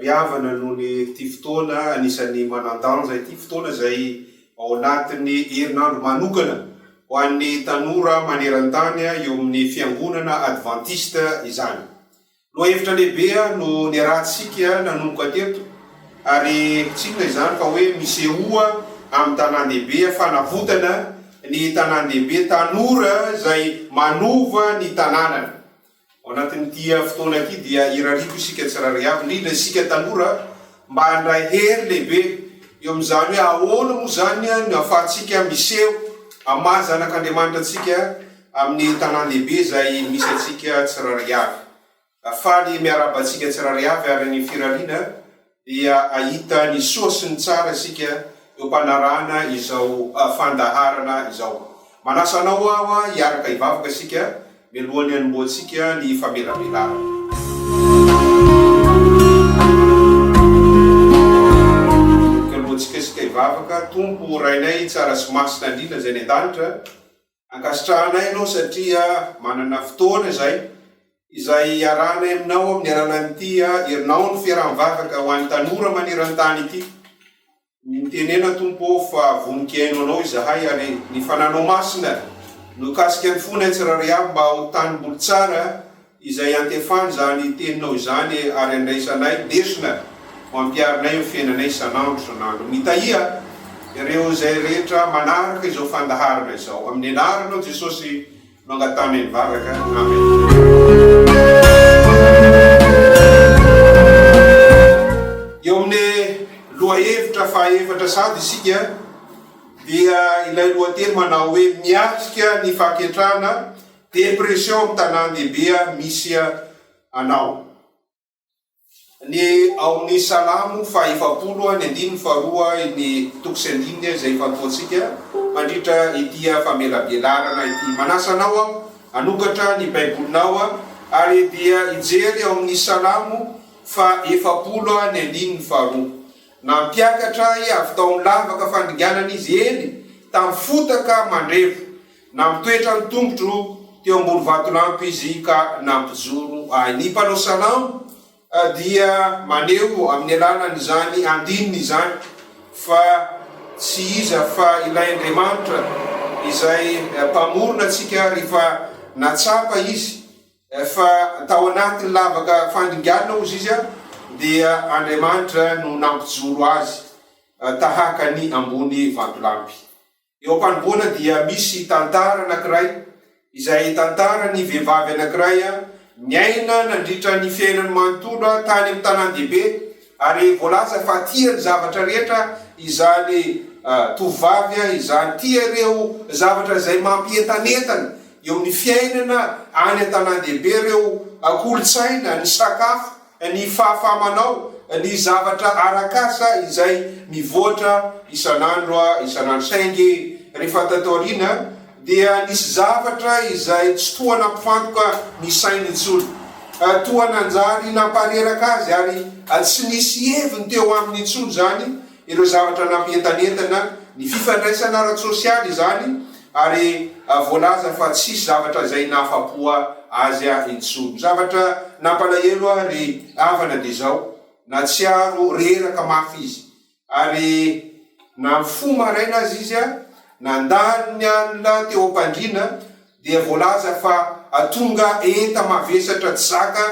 Ry havana, noho ny ity fotoana anisan'ny manan-danja ity, fotoana izay ao anatin'ny herinandro manokana ho an'ny tanora maneran-tany eo amin'ny Fiangonana Advantista izany. Lohahevitra lehibe no niarahantsika nanomboka teto, ary tsy inona izany fa hoe misehoa amin'ny tanàn-dehibe, fanavotana ny tanàn-dehibe, tanora izay manova ny tanànana. Ao anatin'ity fotoana ity dia irariako isika tsirairay avy, indrindra isika tanora, mba handray hery lehibe eo amin'izany hoe ahoana moa izany no ahafahantsika miseho amin'ny maha zanak'Andriamanitra antsika amin'ny tanàn-dehibe izay misy antsika tsirairay avy. Faly miarahaba antsika tsirairay avy ary ny firariana. dia ahita ny soa sy ny tsara isika eo am-panarahana izao fandaharana izao. Manasa anao aho hiaraka hivavaka isika mialohan'ny hanombohantsika ny famelabelarana. Mialohantsika isika hivavaka, Tompo Rainay tsara sy masina indrindra Izay any an-danitra, Ankasitrahanay ianao satria manana fotoana izay, izay iarahanay aminao amin'ny alalan'ity herinandro fiaraha-mivavaka ho an'ny tanora maneran-tany ity. Mitenena Tompo ô fa vonon-kiaino anao izahay ary ny fananao masina no hikasika ny fonay tsirairay avy mba ho tanimboly tsara, Izay antefan izany teninao izany e ary andraisanay lesona ho ampiarinay amin'ny fiainanay isan'andro isan'andro. Mitahia ireo izay rehetra manaraka izao fandaharana izao. Amin'ny anaranao Jesosy no angatanay mivavaka. Amen. Eo amin'ny lohahevitra fahaefatra sady isika dia ilay lohateny manao hoe miatrika ny fahaketrahana Depression am tanandehibe a misy anao ny ao amin'ny salamo faha efapolo a ny andininy faha roa a ny toko sy andininy a izay ifantohantsika mandritra ity a famelabelarana ity manasa anao aho hanokatra ny baibolinao a ary dia hijery ao amin'ny salamo faha efapolo a ny andininy faha roa nampiakatra ahy avy tao amin'ny lavaka fandringanana izy eny tamin'ny fotaka mandrevo Nampitoetra ny tongotro teo ambony vatolampy izy ka nampijoro ahy. Ny mpanao salamo dia maneho amin'ny alalan'izany andininy izany fa tsy iza fa ilay Andriamanitra izay Mpamorona antsika ary fa natsapa izy fa tao anatin'ny lavaka fandringanana hozy izy dia Andriamanitra no nampijoro azy tahaka ny ambony vatolampy. Eo am-panombohana dia misy tantara anankiray izay tantaran'ny vehivavy anankiray niaina nandritra ny fiainany manontolo tany amin'ny tanàn-dehibe ary voalaza fa tia ny zavatra rehetra izany tovovavy izany. Tia ireo zavatra izay mampientanentana eo amin'ny fiainana any an-tanàn-dehibe, ireo kolontsaina, ny sakafo, Ny fahafahamanao ny zavatra arak'asa izay mivoatra isan'andro isan'andro. Saingy rehefa tato aoriana dia nisy zavatra izay tsy toa nampifantoka ny sainy intsony. Toa nanjary nampareraka azy ary tsy nisy heviny teo aminy intsony izany Ireo zavatra nampientanentana ny fifandraisana ara-tsosialy izany ary voalaza fa tsisy zavatra izay nahafa-po azy ahy intsony. Zavatra nampalahelo ahy ry havana dia izao, nahatsiaro reraka mafy izy ary na mifoha maraina aza izy, nandalo ny alina teo am-pandriana, dia voalaza fa tonga enta-mavesatra tsy zaka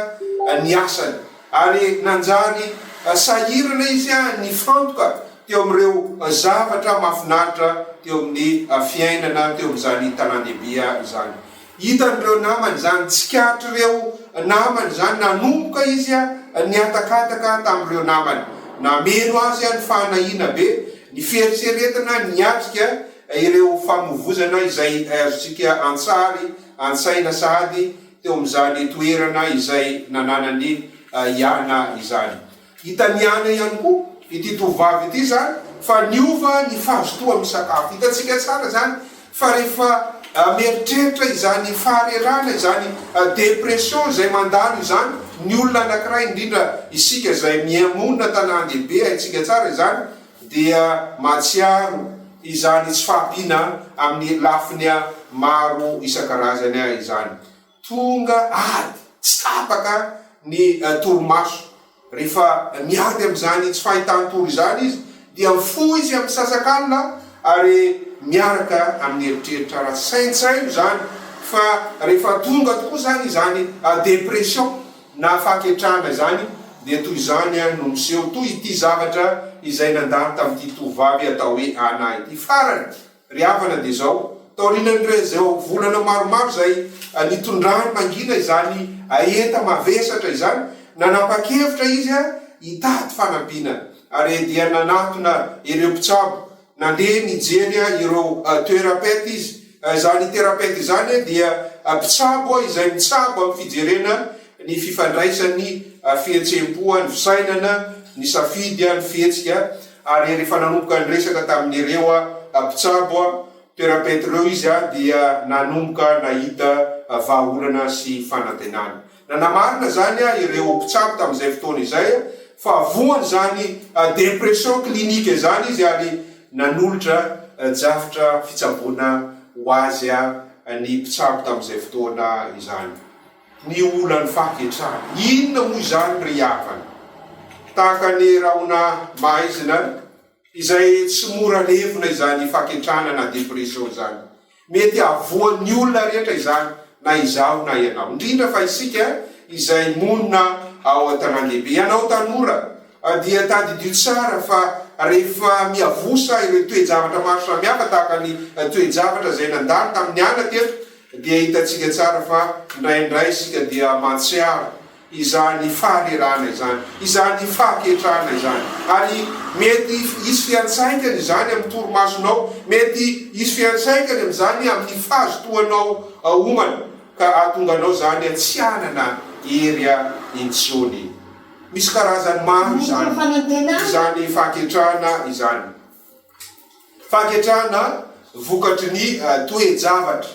ny asany ary nanjary sahirana izy nifantoka teo amin'ireo zavatra mahafinaritra teo amin'ny fiainana teo amin'izany tanàn-dehibe izany. Hitan'ireo namany izany, tsikaritrireo namany izany, nanomboka izy nihatakataka tamin'ireo namany. Nameno azy ny fahanahiana be, ny fieritreretana niatrika Ireo fanovozana izay azontsika an-tsary an-tsaina sahady teo amin'izany toerana izay nananan'i Iana izany. Hitan'i Iana ihany koa ity tovovavy ity izany fa niova ny fahazotoany misakafo. Hitantsika tsara izany fa rehefa mieritreritra izany faharerahana izany, dépression, izay mandalo izany ny olona anankiray, indrindra isika izay miha-monina an-tanàn-dehibe, haintsika tsara izany dia mahatsiaro izany tsy fahampiana amin'ny lafiny maro isan-karazany izany. Tonga ady tsy tapaka ny torimaso. Rehefa miady amin'izany tsy fahitan-tory izany izy dia mifoha izy amin'ny sasakalina ary miaraka amin'ny eritreritra ara-tsaintsaino izany fa rehefa tonga tokoa izany izany depression. Na fahaketrahana izany dia toy izany ihany no miseho, toy ity zavatra izay nandalo tamin'ity tovovavy atao hoe Anna ity farany. Ry havana dia izao, taorian'ireo izao volana maromaro izay nitondrany mangina izany hahenta mavesatra izany, nanapa-kevitra izy hitady fanampiana ary dia nanatona ireo mpitsabo Nandeha nijery ireo toerapety izy. Izany terapety izany dia mpitsabo izay mitsabo amin'ny fijerena ny fifandraisan'ny fihetseham-po, ny fisainana, ny safidy, ny fihetsika. Ary rehefa nanomboka niresaka tamin'ireo mpitsabo toerapety ireo izy dia nanomboka nahita vahaolana sy fanantenana. Nanamarina izany ireo mpitsabo tamin'izay fotoana izay fa voan' izany depression clinique izany izy ary nanolotra drafitra fitsaboana ho azy ny mpitsabo tamin'izay fotoana izany. Ny olan'ny fahaketrahana. Inona moa izany ry havana? Tahaka ny rahona maizina izay tsy mora levona izany fahaketrahana na depression izany. Mety hahavoan'ny olona rehetra izany, na izaho na ianao. Indrindra fa isika izay monina ao an-tanàn-dehibe. Ianao tanora, dia tadidio tsara fa rehefa miavosa ireo toe-javatra maro samihafa tahaka ny toe-javatra izay nandalo tamin'ny ana teto, dia hitantsika tsara fa indraindray isika dia mahatsiaro izany fanerana izany, izany fahaketrahana izany. Ary mety hisy fiantraikany izany amin'ny torimasonao, mety hisy fiantraikany amin'izany amin'ny fahazotoanao homana, ka hahatonga anao izany tsy hanana hery intsony. Misy karazany maro izany, izany fahaketrahana izany. Fahaketrahana vokatry ny toe-javatra.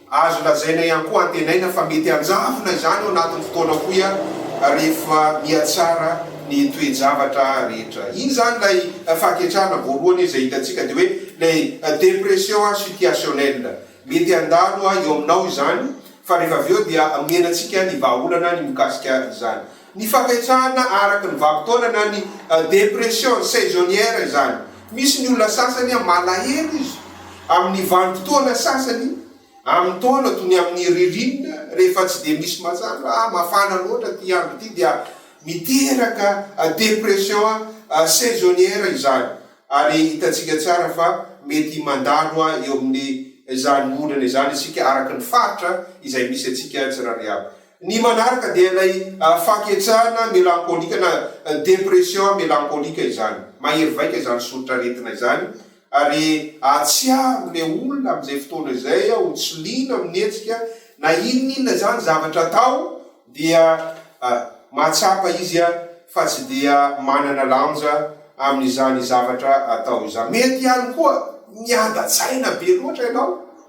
Azo lazaina ihany koa antenaina fa mety hanjavona izany ao anatin'ny fotoana fohy ary rehefa mihatsara ny toe-javatra rehetra. Iny izany ilay fahaketrahana voalohany izay hitantsika dia hoe ilay dépression situationnelle. Mety handalo eo aminao izany fa rehefa avy eo dia mihena antsika ny vahaolana ny mikasika izany. Ny fahatrehana araka ny vanim-potoana na ny dépression saisonnière izany. Misy ny olona sasany malahelo izy amin'ny vanim-potoana sasany amin'ny taona toy ny amin'ny ririnina rehefa tsy dia misy mazava, mafana loatra ity andro ity dia miteraka dépression saisonnière izany ary hitantsika tsara fa mety mandalo eo amin'izany ondrana izany isika araka ny faritra izay misy antsika tsirairay avy. Ny manaraka dia ilay fahaketrahana melankolika na dépression melankolika izany. Mahery vaika izany soritra aretina izany ary ahatsiaro ilay olona amin'izay fotoana izay ho tsy liana amin'ny hetsika na inon'inona izany zavatra atao dia mahatsapa izy fa tsy dia manana lanja amin'izany zavatra atao izany. Mety ihany koa miadatsaina be loatra ianao.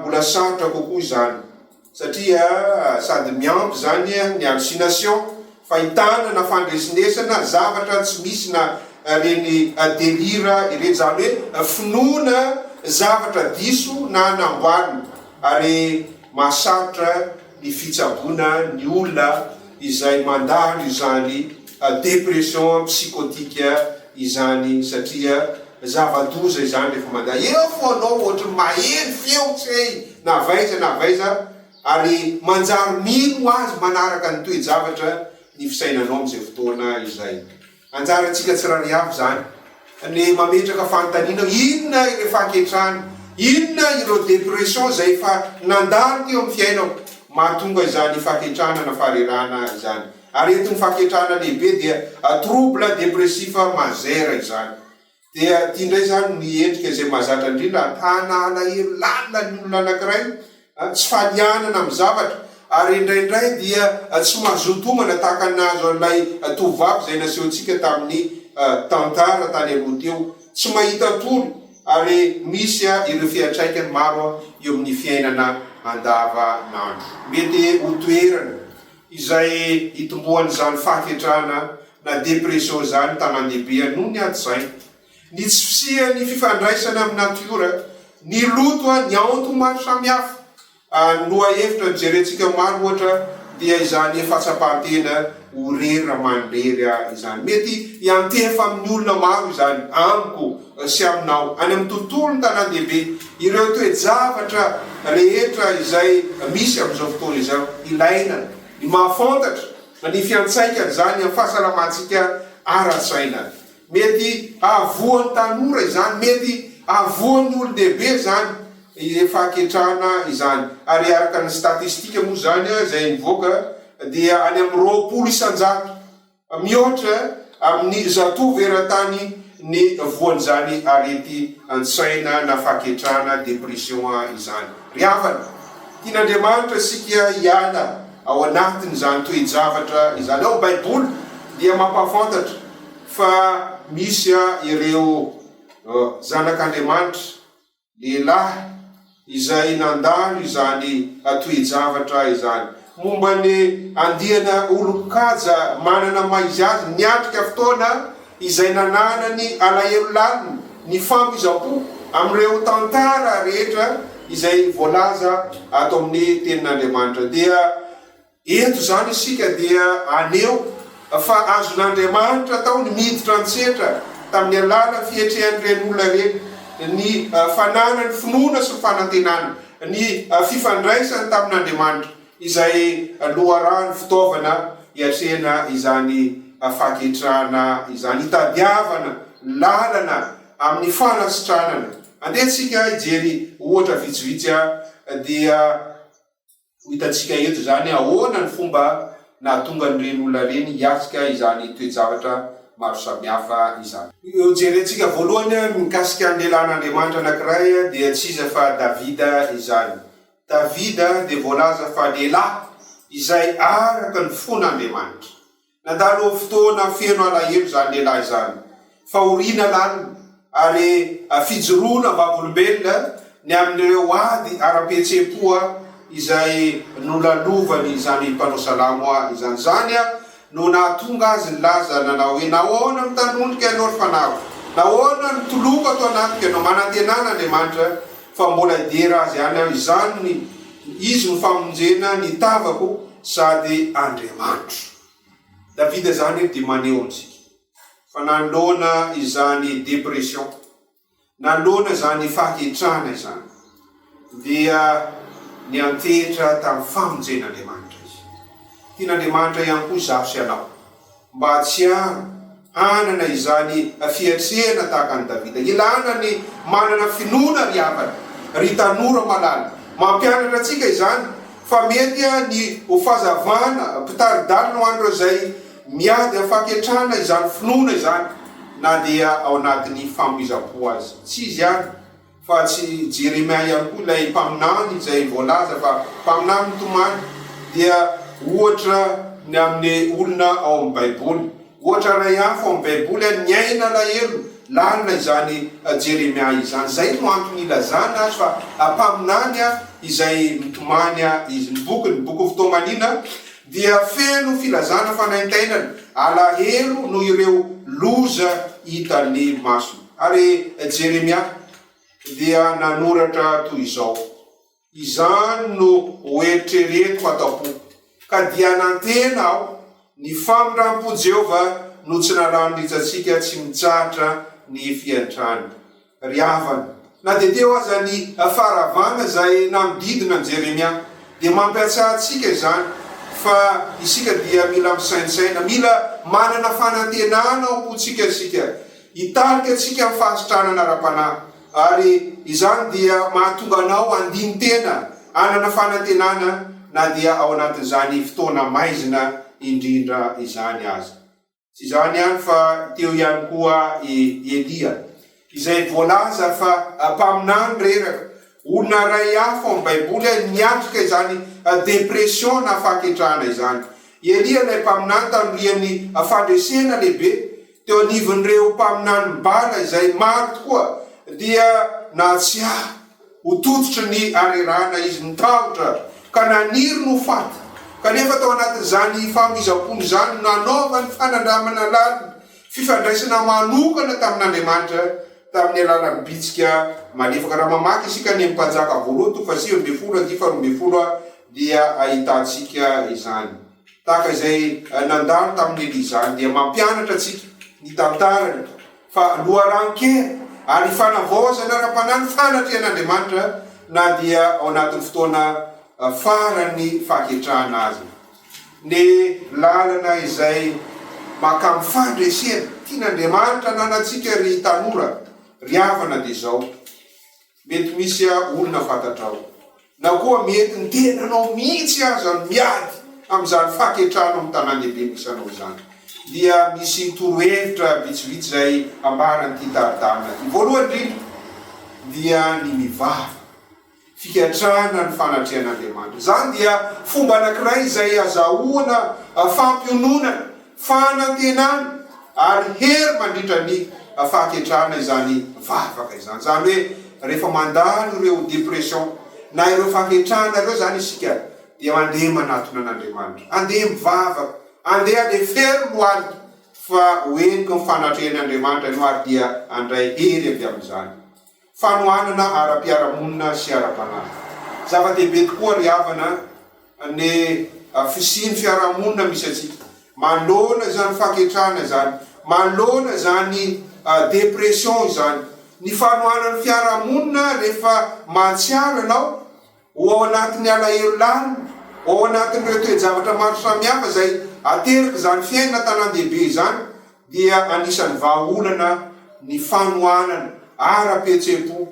Mbola sarotra kokoa izany satria sady miampy izany ny hallucination, fahitana na fandresinesana zavatra tsy misy na ireny delire ireny, izany hoe finoana zavatra diso na namboarina ary mahasarotra ny fitsaboana ny olona izay mandalo izany depression psychotique. izany satria zava-doza izany rehefa mandà eo foanao ohatry ny maheno feo tsy hay na avy aiza na avy aiza ary manjary mino ho azy manaraka ny toe-javatra ny fisainanao amin'izay fotoana izay. Anjarantsika tsirary avy izany ny mametraka fanontaniana inona ireo fahaketrany, inona ireo dépression izay efa nandalo teo amin'ny fiainako mahatonga izany fahaketrana na faharerahana izany. Aretin'ny fahaketrahana lehibe dia trouble dépressif majeur izany. Dia ity indray izany ny endrika izay mahazatra indrindra ahitana alahelo lalina ny olona anankiray, tsy falianana amin'ny zavatra, ary indraindray dia tsy mazoto homana tahaka ny nahazo an'ilay tovovavy izay nasehontsika tamin'ny tantara tany aloha teo, tsy mahita tory ary misy ireo fiantraikany maro eo amin'ny fiainana andavanandro. Mety ho toerana. izay itomboan'izany fahaketrahana na dépression izany tanàndehibe noho ny ady saina, ny tsy fisian'ny fifandraisana amin'ny natiora, ny loto, ny aonto maro samihafa. Ny lohahevitra nojerentsika maro ohatra dia izany fahatsapan-tena ho rery raha mandrery ahy izany. Mety hiantefa amin'ny olona maro izany, amiko sy aminao, any amin'ny tontolon'ny tanàn-dehibe, ireo toe-javatra rehetra izay misy amin'izao fotoana izao. Ilaina ny mahafantatra ny fiantsaikan'izany amin'ny fahasalamantsika ara-tsaina. Mety hahavoan'ny tanora izany, mety hahavoan'ny olon-dehibe izany, efa haketrana izany, ary araka ny statistika moa izany izay nivoaka dia any amin'ny roapolo isan-jato. Mihoatra amin'ny zatovo eran-tany ny voan'izany arety an-tsaina na fahaketrahana, dépression, izany. Ry havana, tian'Andriamanitra isika hiala ao anatin'izany toe-javatra izany. Ao amin'ny Baiboly dia mampahafantatra fa misy ireo zanak'Andriamanitra. lehilahy izay nandalo izany toe-javatra izany. Momba ny andiana olon-kaja manana maha izy azy, niatrika fotoana izay nananany alahelo lalina, nifamoizam-po amin'ireo tantara rehetra izay voalaza ato amin'ny Tenin'Andriamanitra, dia Eto izany isika dia haneho fa azon'Andriamanitra atao ny miditra an-tsetra tamin'ny alalan'ny fihetrehan'ireny olona ireny, ny fananany finoana sy ny fanantenana, ny fifandraisany tamin'Andriamanitra, izay loharano fitaovana hiatrehana izany fahaketrahana izany, hitadiavana lalana amin'ny fanasitranana. Andeha tsika hijery ohatra vitsivitsy dia. Ho hitantsika eto izany ahoana ny fomba nahatonga an'ireny olona ireny hiatrika izany toe-javatra maro samihafa izany. Hojerentsika voalohany ny mikasika ny lehilahin'Andriamanitra anankiray dia tsy iza fa Davida izany. Davida dia voalaza fa lehilahy izay araka ny fon'Andriamanitra. Nandalo fotoana feno alahelo izany lehilahy izany, fahoriana lalina ary fijoroana am-bavolombelona ny amin'ireo ady ara-pihetseham-po izay nolalovany izany mpanao salamo izany. Izany no nahatonga azy nilaza nanao hoe, Nahoana no tanoniko ianao ry fanahiko? Nahoana no toloko ato anatiko ianao? Manantenana Andriamanitra fa mbola hidiera azy any aho izany, izy no famonjena ny tavako sady Andriamanitro. Davida zany dia maneho amintsika fa nanoloana izany depression, nanoloana izany fahetrana izany dia niantehitra tamin'ny famonjen'Andriamanitra izy. Tian'Andriamanitra ihany koa izaho sy ianao. Mba tsy hanana izany fiatrehana tahaka an'i Davida. Ilana ny manana finoana ry havana, ry tanora malala. Mampianatra antsika izany fa mety ny ho fahazavana mpitari-dalana ho an'ireo izay miady amin'ny fahaketrahana izany finoana izany na dia ao anatin'ny famoizam-po aza. Tsy izy ihany Fa tsy Jeremia ihany koa ilay mpaminany izay voalaza fa mpaminany mitomany dia ohatra ny amin'ny olona ao amin'ny Baiboly. Ohatra iray hafa ao amin'ny Baiboly, niaina alahelo lalina izany Jeremia izany. Izay no antony ilazana azy fa mpaminany izay mitomany izy. Ny bokiny, ny bokin'ny Fitoamanina, dia feno filazana fanaintainana, alahelo noho ireo loza hitan'ny masony. Ary Jeremia dia nanoratra toy izao, Izany no hoeritreretiko ato am-po, ka dia nantena aho, Ny famindram-po Jehovah no tsy nalany rijantsika tsy mitsahatra ny fiantrany. Ry havana, na dia teo aza ny faharavana izay nanodidina an'i Jeremia, dia mampiantsaha antsika izany fa isika dia mila misaintsaina, mila manana fanantenana ao am-pontsika isika Hitarika antsika amin'ny fahasitranana ara-panahy, ary izany dia mahatonga anao handini-tena hanana fanantenana na dia ao anatin'izany fotoana maizina indrindra izany aza. Tsy izany ihany fa teo ihany koa i Elia, izay voalaza fa mpaminany reraka Olona iray hafa ao amin'ny Baiboly ary niatrika izany depression na fahaketrahana izany. I Elia ilay mpaminany tanorian'ny fandresena lehibe teo anivon'ireo mpaminanin'i Bala izay maro tokoa dia nahatsiahy ho tototry ny harerahana izy. Nitahotra ka naniry ny ho faty. Kanefa tao anatin'izany fahamizam-pony izany no nanaovany fanandramana lalina fifandraisana manokana tamin'Andriamanitra Tamin'ny alalan'ny bitsika malefaka. Raha mamaky isika ny Mpanjaka voalohany toko fahasivy ambin'ny folo andihy faharoa ambin'ny folo dia ahitantsika izany. Tahaka izay nandalo tamin'i Elia izany dia mampianatra antsika ny tantarany fa loharanon-kena ary fanavaozana ara-panahy ny fanatrehan'Andriamanitra na dia ao anatin'ny fotoana faran'ny fahaketrahana aza. Ny lalana izay makam fandresena tian Andriamanitra ananantsika ry tanora ry havana dia izao, mety misy olona fantatrao na koa mety ny tenanao mihitsy aza no miady amin'izany faketrana ao am tanandehibe misy anao izany dia misy torohevitra vitsivitsy izay ambaran'ity tari-dalana ity, voalohany indrindra dia ny mivavaka. fikatrahana ny fanatrehan'Andriamanitra. Izany dia fomba anankiray izay azahoana fampiononana, fanantenana ary hery mandritra ny fahaketrahana izany vavaka izany. Izany hoe rehefa mandalo ireo dépression na ireo fahaketrahana ireo izany isika dia mandeha manatona an'Andriamanitra, andeha mivavaka, andeha alefery lohalika fa ho henoko ny fanatrehan'Andriamanitra ianao ary dia handray hery avy amin'izany. fanohanana ara-piarahamonina sy ara-panahy. Zava-dehibe tokoa ry havana ny fisian'ny fiarahamonina misy antsika manoloana izany fahaketrahana izany, manoloana izany dépression izany. Ny fanohanan'ny fiarahamonina rehefa mahatsiaro ianao ho ao anatin'ny alahelo lany, ho ao anatin'ireo toe-javatra maro samihafa izay aterik'izany fiainana an-tanàn-dehibe izany, dia anisan'ny vahaolana ny fanohanana ara-pihetseham-po,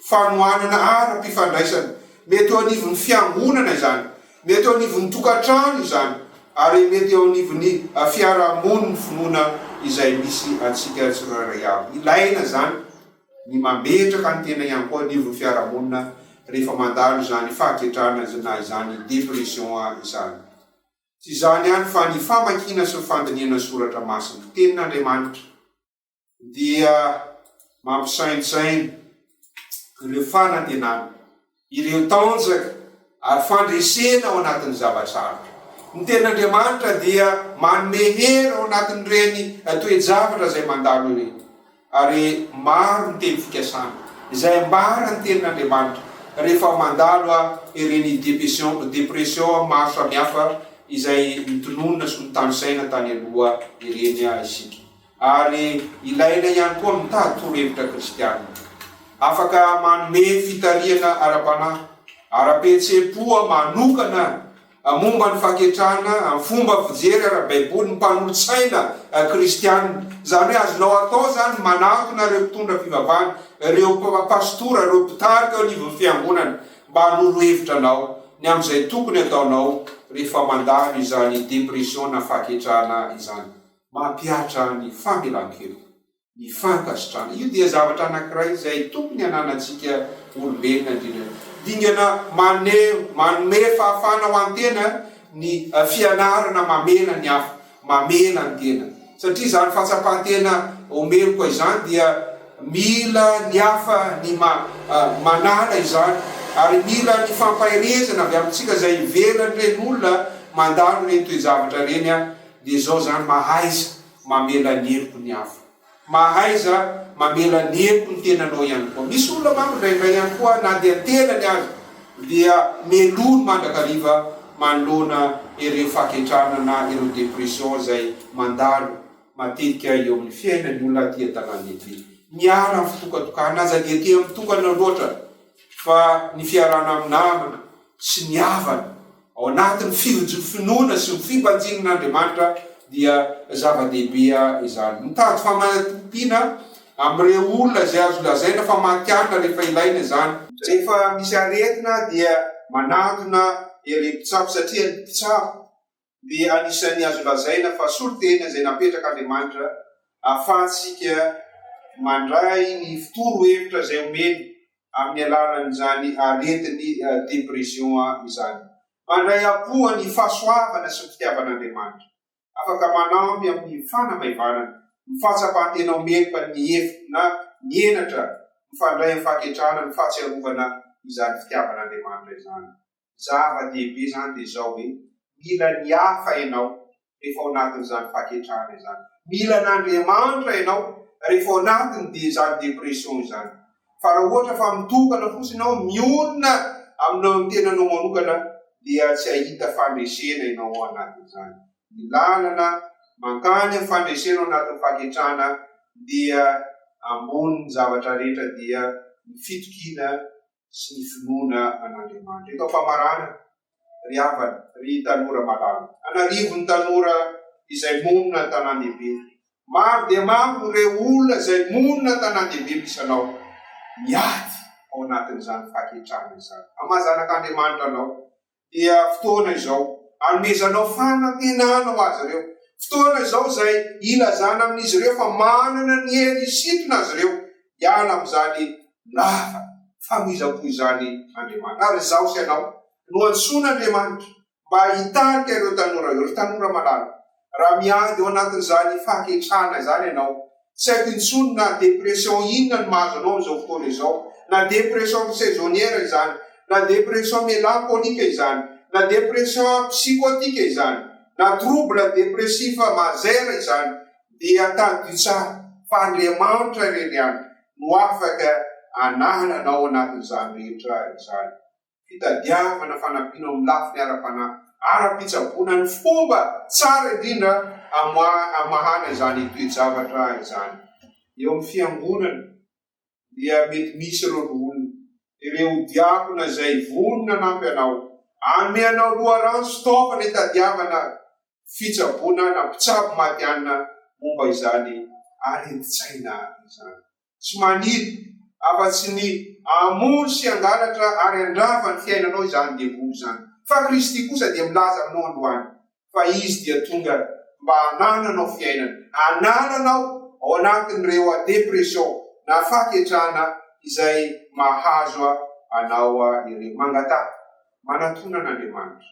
fanohanana ara-pifandraisana. Mety eo anivon'ny fiangonana izany, mety eo anivon'ny tokantrano izany, ary mety eo anivon'ny fiarahamonin'ny finoana izay misy antsika tsirairay avy. Ilaina izany. ny mametraka ny tena ihany koa anivon'ny fiarahamonina rehefa mandalo izany fahaketrahana na izany dépression izany. Tsy izany ihany fa ny famakiana sy ny fandinihana ny soratra masina, tenin'Andriamanitra, dia mampisaintsaina ireo fanantenana Ireo tanjaka ary fandresena ao anatin'ny zava-tsarotra. Ny Tenin'Andriamanitra dia manome hery ao anatin'ireny toe-javatra izay mandalo ireny. Ary maro ny teny fikasana izay ambaran'ny Tenin'Andriamanitra rehefa mandalo ireny depression maro samihafa izay notononina sy notanisaina tany aloha ireny isika. Ary ilaina ihany koa mitady torohevitra kristiana. Afaka manome fitarihana ara-panahy, ara-pihetseham-po manokana momba ny fahaketrahana amin'ny fomba fijery ara-baiboly ny mpanolotsaina kristiana. Izany hoe azonao atao izany ny manatona ireo mpitondra fivavahana, ireo pastora, ireo mpitarika eo anivon'ny fiangonana mba hanoro hevitra anao ny amin'izay tokony ataonao rehefa mandalo izany depression na fahaketrahana izany. Mampihatra ny famelan-keloka, ny fankasitrahana. Io dia zavatra anankiray izay tokony hananantsika olombelona indrindra. Dingana maneho, manome fahafahana ho an'ny tena ny fianarana mamela ny hafa, mamela ny tena. Satria izany fahatsapan-tena ho meloka izany dia mila ny hafa ny manala izany, ary mila ny fampaherezana avy amintsika izay ivelan'ireny olona mandalo ireny toe-javatra ireny. Dia zao zany mahaiza mamela ny heloky ny hafa. Mahaiza mamela ny heloky ny tenanao ihany koa. Misy olona manko indraindray ihany koa na dia tenany aza dia melohiny mandrakariva manoloana ireo fahaketrana na ireo depression izay mandalo matetika eo amin'ny fiainany olona aty an-tanàn-dehibe. Miala amin'ny fitokatokana aza dia tia mitokana loatra fa ny fiarahana amin'ny namana sy ny havana Ao anatin'ny fiojo-finoana sy ny fibanjina an'Andriamanitra dia zava-dehibe izany. Mitady famaintompiana amin'ireo olona izay azo lazaina fa matihanina rehefa ilaina izany. Rehefa misy aretina dia manantona ireo mpitsabo satria ny mpitsabo dia anisan'ny azo lazaina fa solontena izay napetrak'Andriamanitra ahafahantsika mandray ny fitoro hevitra izay omeny amin'ny alalan'izany aretin'ny dépression izany. Mandray am-poa ny fahasoavana sy ny fitiavan'Andriamanitra. Afaka manampy amin'ny fanamaivanana ny fahatsapan-tena ho meloka ny efitra na ny henatra mifandray amin'ny fahaketrahana ny fahatsiarovana izany fitiavan'Andriamanitra izany. zava dehibe zany de zao hoe mila ny hafa enao rehefa ao anatin zany faketrahana zany mila an Andriamanitra enao rehefa ao anatin de zany depression zany fa raha ohatra fa mitokana fotsiny enao mionona aminao ny tenanao manokana dia tsy ahita fandresena enao ao anatin zany ny lalana mankany am fandresena ao anatin faketrahana dia ambonin zavatra rehetra dia ny fitokiana sy ny finoana an'Andriamanitra. Eto am-pamaranana, ry havana, ry tanora malala, an'arivony tanora izay monina an-tanàn-dehibe, maro dia maro ireo olona izay monina an-tanàn-dehibe misy anao, miady ao anatin'izany fahaketrahana izany. Hamaha zanak'Andriamanitra anao, dia fotoana izao anomezanao fanantenana ho azy ireo. Fotoana izao izay ilazana amin'izy ireo fa manana ny hery hisintona azy ireo hiala amin'izany lava famindram-po izany Andriamanitra. Ary izaho sy ianao no antsoin'Andriamanitra mba hitarika ireo tanora ireo, ry tanora malala. Raha miady ao anatin'izany fahaketrahana izany ianao, tsy haiko intsony na dépression inona no mahazo anao amin'izao fotoana izao, na dépression saisonnière izany, na dépression mélancolique izany, na dépression psychotique izany, na trouble dépressif majeur izany, dia tadidio tsara fa Andriamanitra irery ihany no afaka hanala anao anatin'izany rehetra izany. fitadiavana fanampiana ao amin'ny lafiny ara-panahy, ara-pitsaboana ny fomba tsara indrindra amahana izany toe-javatra izany. Eo amin'ny Fiangonana dia mety misy ireo loholona, ireo diakona izay vonona hanampy anao, hanome anao loharano sy taovana hitadiavana fitsaboana na mpitsabo matihanina momba izany areti-tsaina izany. tsy maniry afa tsy ny hamono sy hangalatra ary handrava ny fiainanao izany devoly izany. Fa Kristy kosa dia milaza aminao androany fa Izy dia tonga mba hanananao fiainana, hanananao ao anatin'ireo depression na fahaketrana izay mahazo anao ireo. Mangataha, manatona an'Andriamanitra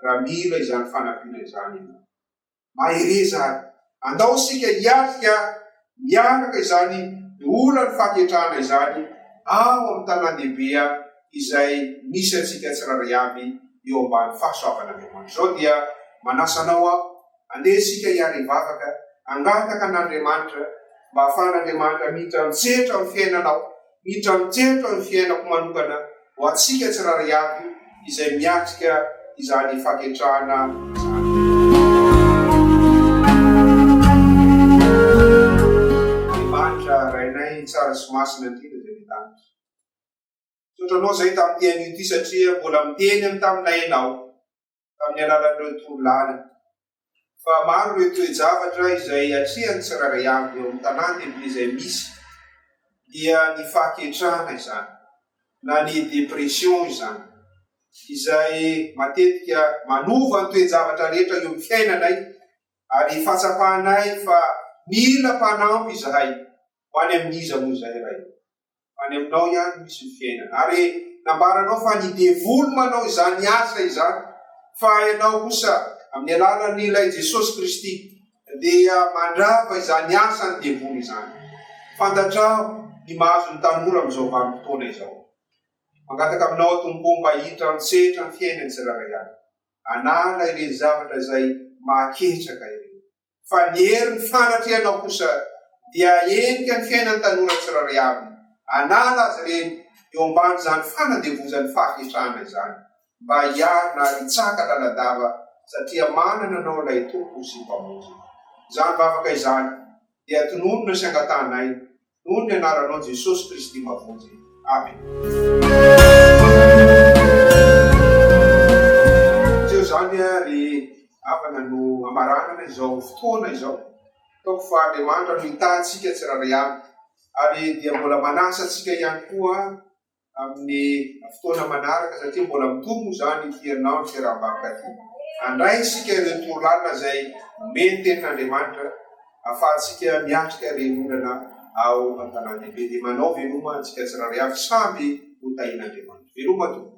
raha mila izany fanampiana izany ianao. mahereza any. Andao isika hiatrika miaraka izany olan'ny fahaketrahana izany ao amin'ny tanàn-dehibe izay misy antsika tsirairay avy eo ambany fahasoavan'Andriamanitra. Izao dia manasa anao aho, andeha isika hiara hivavaka, hangataka an'Andriamanitra mba hahafahan'Andriamanitra mihitan-tsetra amin'ny fiainanao Miditra mitsentsitra ny fiainako manokana ho antsika tsirairay avy izay miatrika izany faketrahana izany. Andriamanitra Rainay tsara sy masina indrindra izay any an-danitra. Misaotra Anao izay tamin'ity anio ity satria mbola miteny amin'ny taminay Ianao. amin'ny alalan'ireo torolalana. Fa maro ireo toe-javatra izay atrehan'ny tsirairay avy eo amin'ny tanàn-dehibe izay misy, dia ny fahaketrahana izany, na ny dépression izany, izay matetika manova ny toe-javatra rehetra eo amin'ny fiainanay, ary fahatsapanay fa mila mpanampy izahay, ho any amin'iza moa izay Ray? Any aminao ihany no misy ny fiainana. Ary nambaranao fa ny devoly manao izany asa izany, fa ianao kosa, amin'ny alalan'ny Ilay Jesosy Kristy, dia mandrava izany asan'ny devoly izany. Fantatrao ny mahazo ny tanora amin'izao vanim-potoana izao. Mangataka aminao aho, Tompo, mba hiditra an-tsetra amin'ny fiainan'ny tsirairay avy. Anàla ireny zavatra izay mahaketraka ireny. fa ny herin'ny fanatrehanao kosa dia hahenika ny fiainan'ny tanora tsirairay avy. Anala azy ireny eo ambanin'izany fanandevozan'ny fahaketrahana izany, mba hiarina ary hitsaka laladava satria manana anao ilay Tompo sy Mpamonjy. Izany vavaka izany dia tononina sy angatahanay Noho ny anaranao Jesosy Kristy Mavonjy. Amena. Tsy eo izany ry havana no hamaranana izao fotoana izao. Ataoko fa Andriamanitra no hitahy antsika tsirairay avy ary dia mbola manasa antsika ihany koa amin'ny fotoana manaraka satria mbola mitohy moa izany ity herinandro sy haram-bakoka ity. Handray isika ireo toro lalina izay omen'ny Tenin'Andriamanitra ahafahantsika miatrika ireny olana ao an-tanàn-dehibe. Dia manao veloma antsika tsirairay avy, samy ho tahian'Andriamanitra. Veloma tompoko.